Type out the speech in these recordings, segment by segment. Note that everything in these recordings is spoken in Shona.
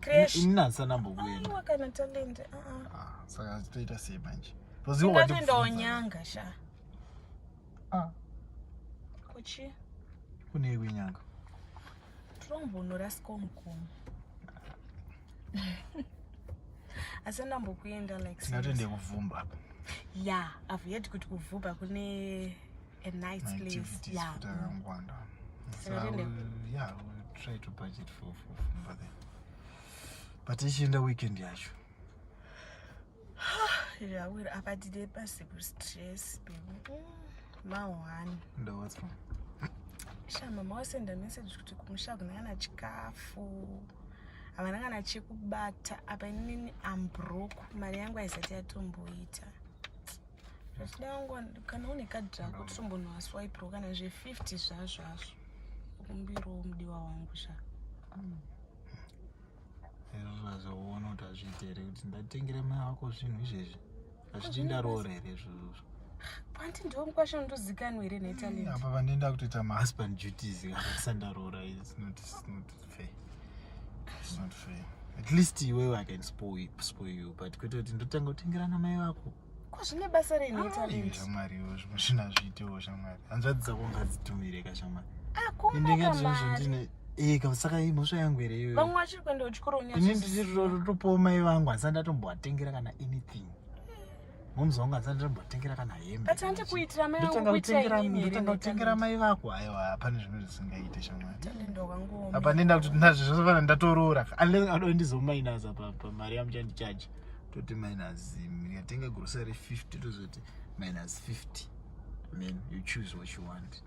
Crash. Ini nansana mbokuenda. Aiwa kana talent. Ah, ah. ah saka toita sei manje? Because you want to. Ndatoenda onyanga sha. Ah. Kuchi. Kune iwe nyanga. Trombonora skomkom. Asi ndambokuenda like. Tingatende kuvumba apa. Yeah, I've heard kuti kuvumba kune a nice place. Activities yeah. for Tarangwanda. So I will, yeah, I will try to budget for for Fumba then. But ichienda weekend yacho. yeah, well, apa tide pasipo stress baby. Mahwani. Ndo what's wrong? Sha mama wasenda message kuti kumusha kuna kana chikafu. Havana kana chekubata apa inini I'm broke. Mari yangu haisati yatomboita. zvichida wangu kana une kadhi rako totombonwa swaipiro kana zve50 zvazvazvo kumbirawo mudiwa wangu sha ero zvazoona kuti azviite here kuti ndatengere mai wako zvinhu izvezvi azviti ndaroora here izvozvo panti ndiwo mukwasha undozikanwa here netalent apa pandienda kutoita mahusband duties akasandaroora is not fair is not fair at least iwewe i can spoil you but kwete kuti ndotanga kutengerana mai vako ko zvine basa rei netalent shamwari iwe zvimwe zvina zviitewo shamwari hanzvadzi dzako ngadzitumire ka shamwari akundakamari eka saka imhosva yangu here iyoyo vamwe vachiri kuenda kuchikoro ini ndichitotopowo mai vangu handisati ndatombovatengera kana anything momzi wangu handisati ndatombovatengera kana hembendotanga kutengera mai vako haiwa hapane zvimwe zvisingaite shamwariapa ndenda kuti nazvo zvozofana ndatoroora unless adondizomainaza pamari yamuchandichaji toti minus ndikatenga grocery 50 tozoti minus 50 then you choose what you want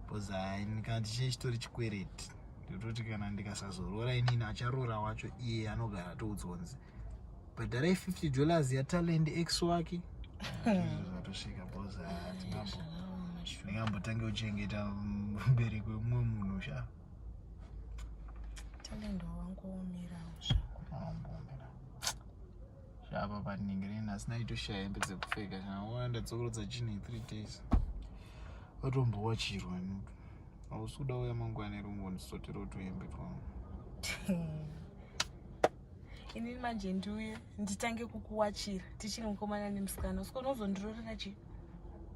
because haini kana tichine chitori chikwereti ndototi kana ndikasazoroora inini acharoora wacho iye anogara atoudzonzi bhadharai 50 dollars yatalend x wake zvatosvika because hatingambo ndingambotange kuchengeta mbereki wemumwe munhu sha talendo wangu omirawo zvako zvapa paningi rina asina itoshaya hembe dzekupfeka chanaona ndadzokorodza chine three days vatombowa chirwa nutu hausi kuda uya mangwana irungu ndisotero tuhembe twangu inini manje ndiuye nditange kukuwachira tichiri mukomana nemusikana usiko unozondirorera chii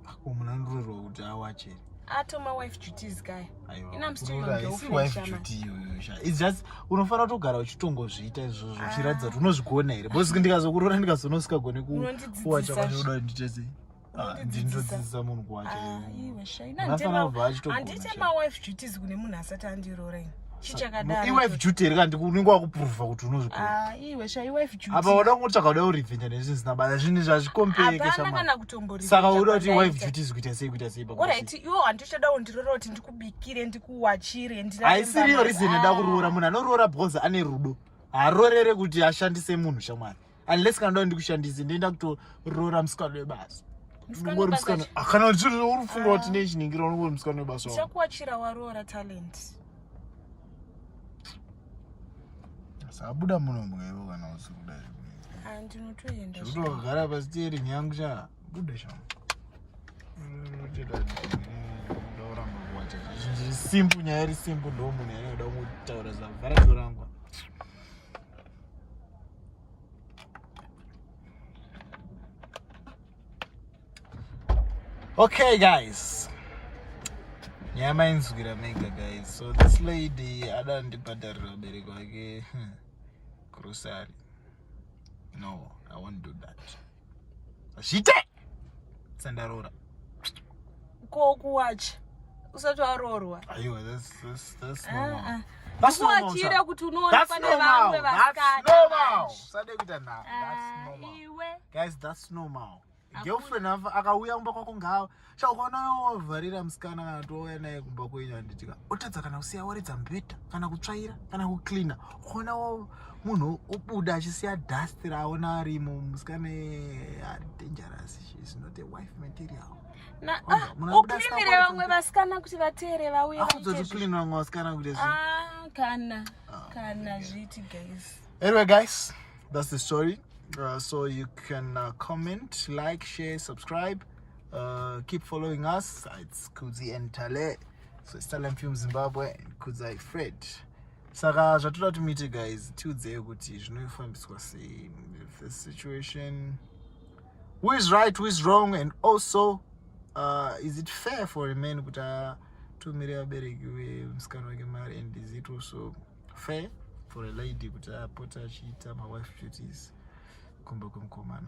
ako munhu anororwa kuti awache atoma wife duties kaya just unofanira kutogara uchitongozviita izvozvo ah. uchiratidza kuti unozvigona here bcause ndikazokurora ndikazonosikagone kuwacha kwaoda ndichese ndinodzidzisa munhu kuwacha ah, iwe shaina nditema wife duties kune munhu asati andiroora ini chichakadaro iwife duty here kandi unenge wakuprova kuti unozvikona ah, iwe sha iwife duty apa wada kungotsvaga kuda kurevenge nezvinhu zvisina basa zvinhu zvazvikompeke shamana saka uda kuti iwife duty zvikuita sei kuita sei pakuti iwe hanti uchada undirora kuti ndikubikire ndikuwachire haisiriyo reason ida ah. kuroora munhu anoroora because ane rudo haarorere kuti ashandise munhu shamwari unless kana ndau ndikushandise ndoenda kutoroora musikana webasa ungori musikana ah, kana uri kufunga kuti ah. ne chiningiro unongori musikana webasa chakuwachira waroora talent sabuda muno mwevo kana usiri kuda ah, ndinotoenda zvekutogara pasi tieri nyangu cha buda sha simpu nyaya iri simpu ndomunhu yanoda kutaura zavhara torangwa okay guys nyaya mainzwira mega guys so this lady ada ndibhadharira vabereki vake grocery no i won't do that zvite sandaroora ko kuwachi usati waroorwa aiwa vasuwachire ah, ah. kuti unoona pane vamwe vasikanausade kuita nhaguys ah, thats normal girlfriend akauya kumba kwako ngava sha ukaona wavharira musikana kana touya naye kumba kwenyu handitika otadza kana kusiya waridza mubhedha kana kutsvaira kana kucleana ukaona munhu obuda achisiya dust raaona arimo musikana dangerous she's not a wife material ah, uklinire vamwe vasikana kuti vateere vauye akuzotoklinira vamwe vasikana kuti ah, kana ah, kana zviti guys anyway guys that's the story uh, so you can uh, comment like share subscribe Uh, keep following us. It's Kudzi and Tale. So it's Tale Film Zimbabwe and Kudzai Fred. Saka zvatoda tumite guys tiudzei kuti zvinofambiswa sei if the situation who is right who is wrong and also uh, is it fair for a man kuti atumire vabereki vemusikana wake mari and is it also fair for a lady kuti apote achiita mawife duties kumba kwemukomana